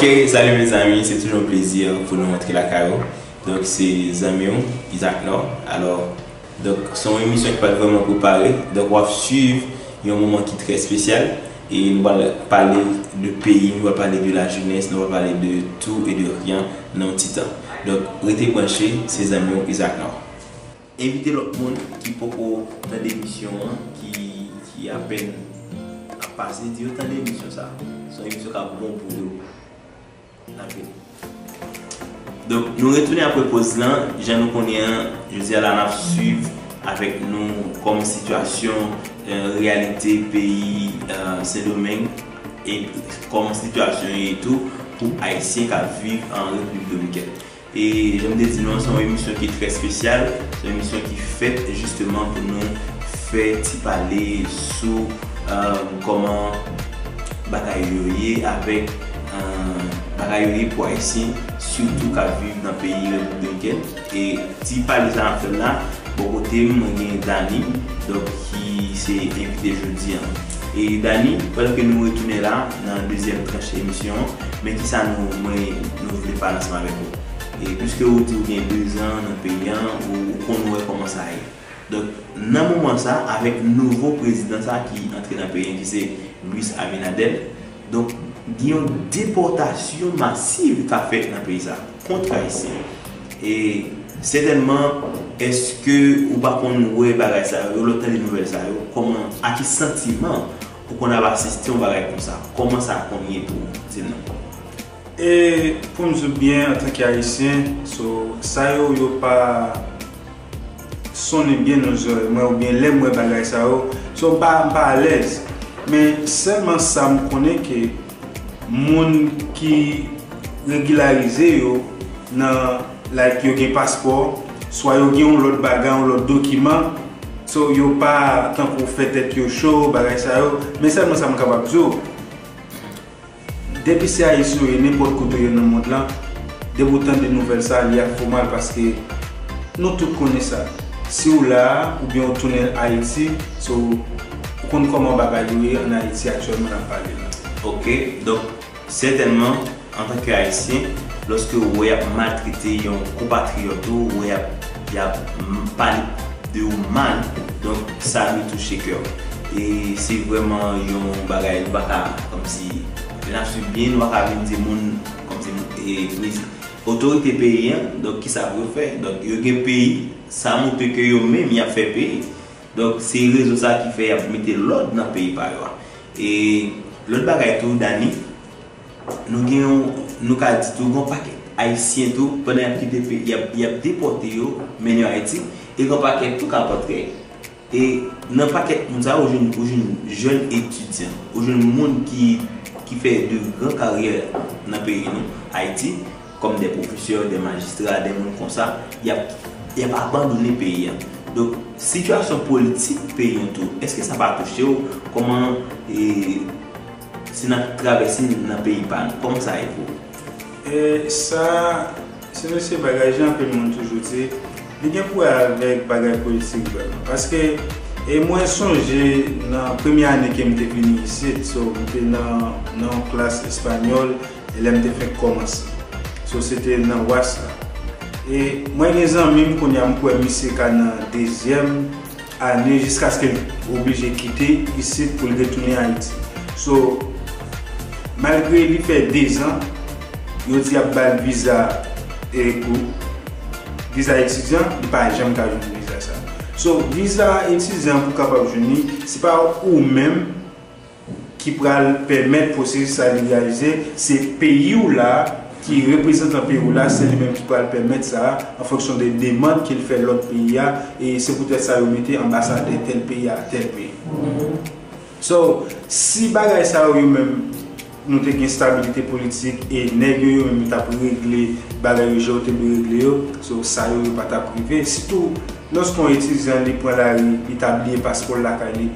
Ok salut mes amis se toujou yon plezi pou nou antre lakay ou donk se zanmiw Isaac Nord alò donk se yon emisyon ki pat vrèman prepare donk wap swiv yon moman ki trè spesyal e nou pral pale de peyi nou pral pale de la jenès nou pral pale de tou e de ryan nan yon ti tan donk rete branche se zanmiw Isaac Nord. Envite lòt moun ki poko tande emisyon an ki apèn ap pase di yo tande emisyon sa se yon emisyon kap bon pou yo nap vini donk nou retounen apre poz lan jan nou konnen an jodi a la nap swiv avèk nou kòm sitiyasyon reyalite peyi sendomeng e kòman sitiyasyon ye tou pou ayisyen kap viv an repiblik dominikèn E jan m te di nou an, se yon emisyon ki trè spesyal, se yon emisyon ki fèt jisteman pou nou fè ti pale sou kòman bagay yo ye avèk bagay yo ye pou Ayisyen sitou k ap viv nan peyi Repiblik Dominikèn. E ti pale sa n ap fè l la, bò kote m mwen gen Dani donk ki se envite jodi an. E Dani, pandan ke nou retounen la nan dezyèm tranch emisyon an, Men kisa nou mwen nou vle pale ansanm avèk ou. E piske ou di ou gen 2 zan nan peyi an, ou konn wè kòman sa ye. Donk nan moman sa avèk nouvo prezidan sa ki antre nan peyi an ki se Luis Abinader, donk gen yon depòtasyon masiv kap fèt nan peyi sa kont ayisyen yo. E sètènman eske ou pa konn wè bagay sa yo, lè w tande nouvèl sa yo, kòman a ki santiman Pou konn al asiste yon bagay konsa, kòman sa konn ye pou ou? Di nou. E pou m di w byen antanke Ayisyen, so sa yo yo pa sonnen byen nan zòrèy mwen oubyen lè m wè bagay sa yo, so m pa alèz. Men sèlman sa m konnen ke. Moun ki regilarize yo nan like yo gen paspò swa yo gen yon lòt bagay yon lòt dokiman so yo pa tankou fè tèt yo cho bagay sa yo men sèlman sa m kapab di w depi se ayisyen yo ye nenpòt kote yo ye nan mond lan depi ou tande nouvèl sa li ap fè w mal paske nou tout konnen sa si w la a oubyen ou tounen ayiti se w Ou konn kòman bagay yo ye an Ayiti aktyèlman n ap pale la. Ok, donk sètènman antanke Ayisyen, lòske ou wè y ap maltrete yon konpatriyòt ou, ou wè y ap y ap pale de ou mal, donk sa dwe touche kè w. E se vrèman yon bagay nou pa ka kòmsi, lè n ap suiv byen, nou pa ka vin di moun kòmsi prezi, otorite peyi an, donk kisa pou yo fè? Donk yo gen peyi, sa montre ke yo menm y ap fè peyi. Donk se rezon sa ki fè yap mete lòd nan peyi pa yo a. E lòt bagay tou Dani, nou gen yon, nou ka di tou gen yon pakèt ayisyen tou pandan yap kite peyi a, yap depòte yo mennen yo Ayiti, e gen yon pakèt tou kap antre. E nan pakèt moun sa yo, ou jwenn, ou jwenn jèn etidyan, ou jwenn moun ki fè de gran karyè nan peyi nou Ayiti. Kòm dè pwofesè, dè majistra, dè moun konsa, yap yap abandone peyi an. Donk, sitiyasyon politik peyi an tou, eske sa pa touche w? Kòman e si n ap travèse nan peyi pa nou, kòman sa ye pou ou? E sa, se nou se bagay jan anpil moun toujou di, li gen pou wè avèk bagay politik vrèman. Paske, e mwen sonje nan premye ane ke m te vini isit, so m te nan nan yon klas espanyòl, e lèm te fenk kòmanse so se te nan was la e mwen gen zanmim kounya m kwè misye ka nan dezyèm ane jiskaske l oblije kite isit pou l retounen ayiti so malgre li fè dezan yo di yap bal viza e pou viza etidyan li pa janm ka jwenn viza sa so viza etidyan pou kapab jwenn li se pa ou menm. ki pral pèmèt pwosesis la legalise, se peyi w la ki reprezantan peyi w la, se li menm ki pral pèmèt sa a an fonksyon de demand ke l fè lòt peyi a, e se poutèt sa yo mete anbasadè tèl peyi a tèl peyi. So, si bagay sa yo yo menm nou te gen stabilite politik e nèg yo yo menm yo t ap regle bagay yo jan yo te dwe regle yo, so sa yo yo pa t ap rive, sitou lòske yon etidyan li pran lari li ta bliye paspò l lakay li,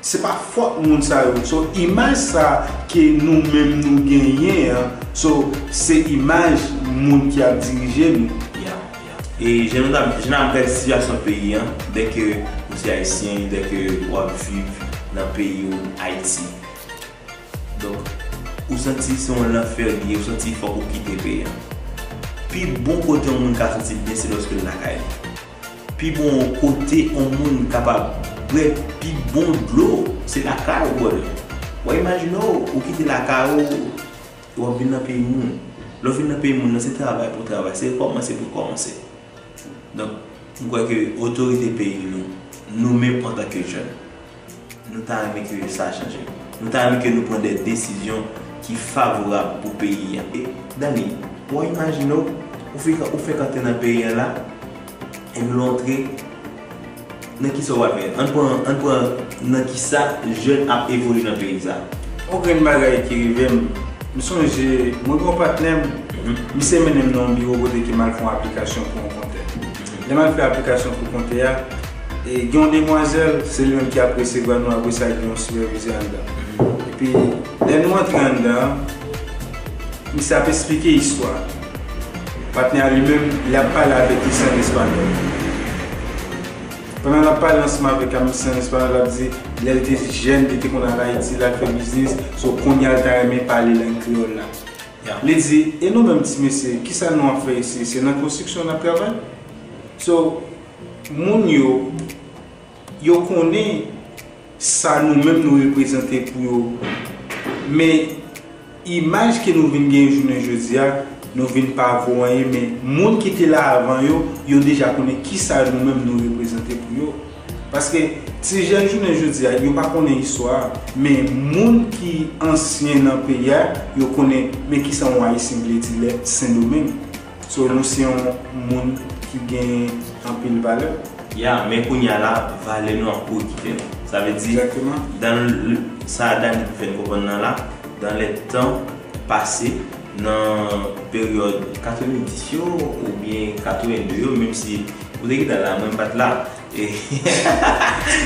Se pa fòt moun sa yo so imaj sa ke nou menm nou genyen an so se imaj moun ki ap dirije nou. Ya ya e jan nou ta jan nap gade sitiyasyon peyi an dè ke ou se ayisyen dè ke wap viv nan peyi ou ayiti donk ou santi se yon lanfè li ye ou santi fòk ou kite peyi an pi bon kote yon moun ka santi l byen se lòske l lakay li. Pi bon kote on moun kapab bwè pi bon dlo se lakay ou bòdè. W'ap imajine w, ou kite lakay ou e w'ap vin nan peyi moun. Lè w vin nan peyi moun nan se travay pou w travay, se rekòmanse pou w kòmanse. Donk, m kwè ke otorite peyi nou, nou menm antanke jèn, Nou ta renmen ke sa chanje. Nou ta renmen ke nou pran de desizyon ki favorab pou peyi a. E, Dany, bon imajine w, ou fik, ou fèk antre nan peyi a la, epi lè w antre, nan ki sa ou ap jwenn? Ann pran, ann pran nan ki sa jèn ap evolye nan peyi sa a. Yon grenn bagay ki rive m, m sonje, mwen gen yon patnè m, misye mennen m nan yon biwo kote ke m al fè yon aplikasyon pou yon kontè. Lè m al fè aplikasyon pou konte a, e gen yon demwazèl, se li menm ki ap resevwa nou apre sa gen yon sipèvizè anndan. Epi lè nou antre anndan an, misye ap esplike istwa a. Patnè a li menm, li ap pale avèk misye an espanyòl. Pandan l ap pale ansanm avèk misye an espanyòl, l ap di lè l te jèn, li te konn al Ayiti, l al fè biznis, so kounye a l ta renmen pale lang kreyòl la. Yap le di, e nou menm ti mesye kisa nou ap fè isi, se nan konstriksyon nap travay? So, moun yo, yo konnen sa nou menm nou reprezante pou yo, men imaj ke nou vin genyen jounen jodi a, nou vin pa vo anyen men moun ki te la avan yo, yo deja konnen kisa nou menm nou reprezante pou yo. Paske ti jèn jounen jodi a yo pa konnen istwa a, men moun ki ansyen nan peyi a yo konnen men kisa yon ayisyen vle di lè sendomeng. So nou se yon moun ki gen anpil valè. Ya, men kounye a la valè nou ap pwokipe nou. Sa vle di, dan l, sa Dany vle fè n konprann nan la, dan lè tan pase, Nan peryòd 90 yo oubyen 82 yo menm si ou te gentan la mwen pat la e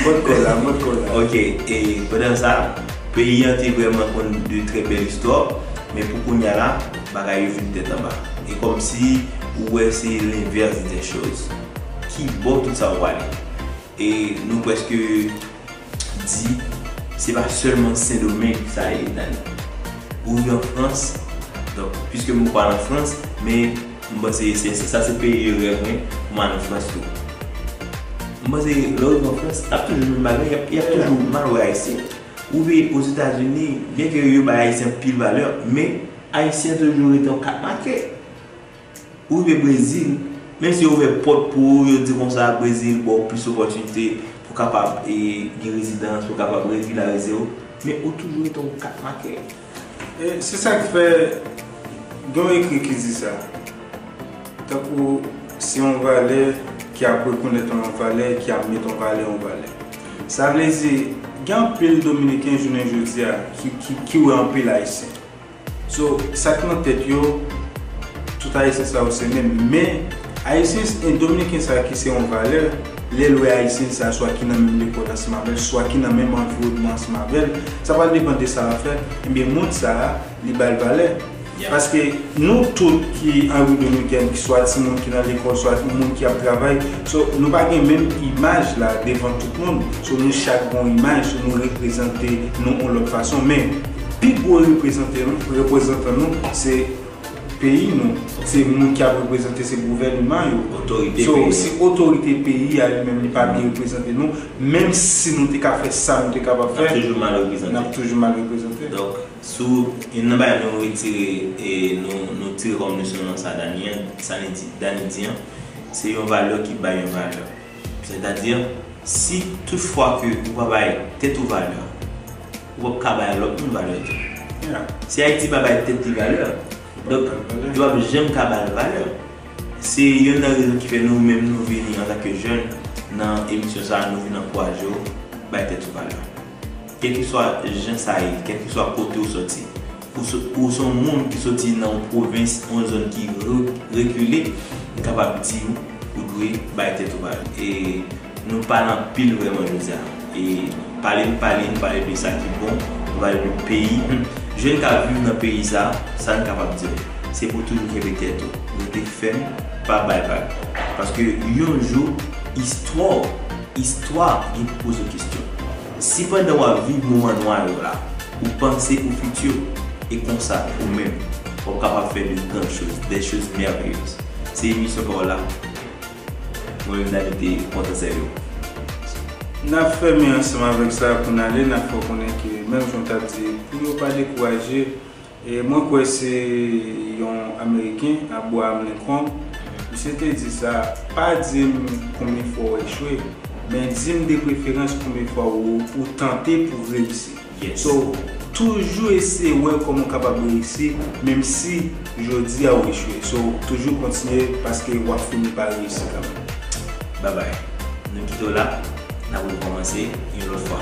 Mòd kò la mòd kò la. Ok e pandan sa peyi an te vrèman konn de trè bèl istwa men pou kounya la bagay yo vin tèt anba e kòm si ou wè se l'inverse des choses. Kibò tout sa yo prale e nou prèske di se pa sèlman Sendomeng sa ye nan li. Ou nan Frans, donk piske m pa al an Frans, men m panse se sa se peyi rèv mwen pou m al an Frans tou. M panse lè w rive an Frans, l ap toujou menm bagay, y ap toujou mal wè Ayisyen. Ou rive Ozetazini, byenke yo bay Ayisyen anpil valè, men Ayisyen toujou rete yon kat make. Ou rive Brezil, menm si yo ouvè pòt pou ou, yo di konsa Brezil ba w plis opòtinite pou w kapab gen rezidans, pou w kapab regilarize w, men ou toujou rete yon kat makè. E se sa k fè gen yon ekri ki di sa, tankou se yon valè ki ap rekonèt yon valè, ki ap met yon valè yon valè. Sa vle di gen anpil dominiken jounen jodi a ki wè anpil ayisyen. So sak nan tèt yo tout ayisyen sa yo se menm men ayisyen en dominiken sa ki se yon valè lèl wè ayisyen sa swa ki nan menm lekòl ansanm avèl swa ki nan menm anviwònman ansanm avèl sa pral depan de sa lap fè ebyen moun sa li bal valè paske nou tout ki an repiblik dominikèn ki swa ti moun ki nan lekòl swa ti moun ki ap travay so nou pa gen menm imaj la devan tout moun so nou chak gon imaj so nou reprezante nou yon lòt fason men. Pi gwo reprezante nou, reprezantan nou se peyi nou, se moun ki ap reprezante, se gouvènman yo. Otorite peyi a. So, se otorite peyi a li menm li pa byen reprezante nou, menm si nou te ka fè sa nou te kapab fè. N ap toujou mal reprezante. N ap toujou mal reprezante. Donk, sou youn nan bagay nou retire, e nou tire kòm leson nan sa Dany an, sa li di, Dany di an, se yon valè ki bay yon valè. Sètadi, si tout fwa ke ou pa bay tèt ou valè, Ou pap ka bay lòt moun valè tou. Si Ayiti pa bay tèt li valè, donk yo pap janm ka ba l valè. Se yonn nan rezon ki fè nou menm nou vini antanke jèn nan emisyon sa a, nou vin ankouraje w bay tèt ou valè. Kèlkeswa jan sa ye, kèlkeswa kote ou soti. Pou w se yon moun ki soti nan yon pwovens, yon zòn ki rekile, m kapab di w, ou dwe bay tèt ou valè. E nou pale anpil vrèman jodi a. E pale n pale, nou pale de sa ki bon, nou pale de peyi. Jèn k ap viv nan peyi sa, sa n kapab di l, se pou w toujou kenbe tèt ou, rete fèm, pa bay vag. Paske yon jou, istwa w, istwa w gen pou poze w kesyon. Si pandan w ap viv moman nwa yo la, ou panse pou fiti w, e konsa, ou menm, w ap kapab fè de gran choz, des choses merveilleuses. Se emisyon pa w la. Mwen menm Dany te kontan sèvi w. N ap fèmen ansanm avèk sa pou n ale, n ap fè w konnen ke menm jan w t ap di pou yo pa dekouraje, Mwen kwè se yon Ameriken, Abraham Lincoln, misye te di sa, Pa di m konbyen fwa w echwe, men di m depreferans konbyen fwa ou tante pou reyisi. So, toujou eseye wè kòman w kapab reyisi, menmsi jodi a ou echwe. So, toujou kontinye paske w ap fini pa reyisi kanmenm. Babay. Nou kite w la, n ap rekòmanse yon lòt fwa.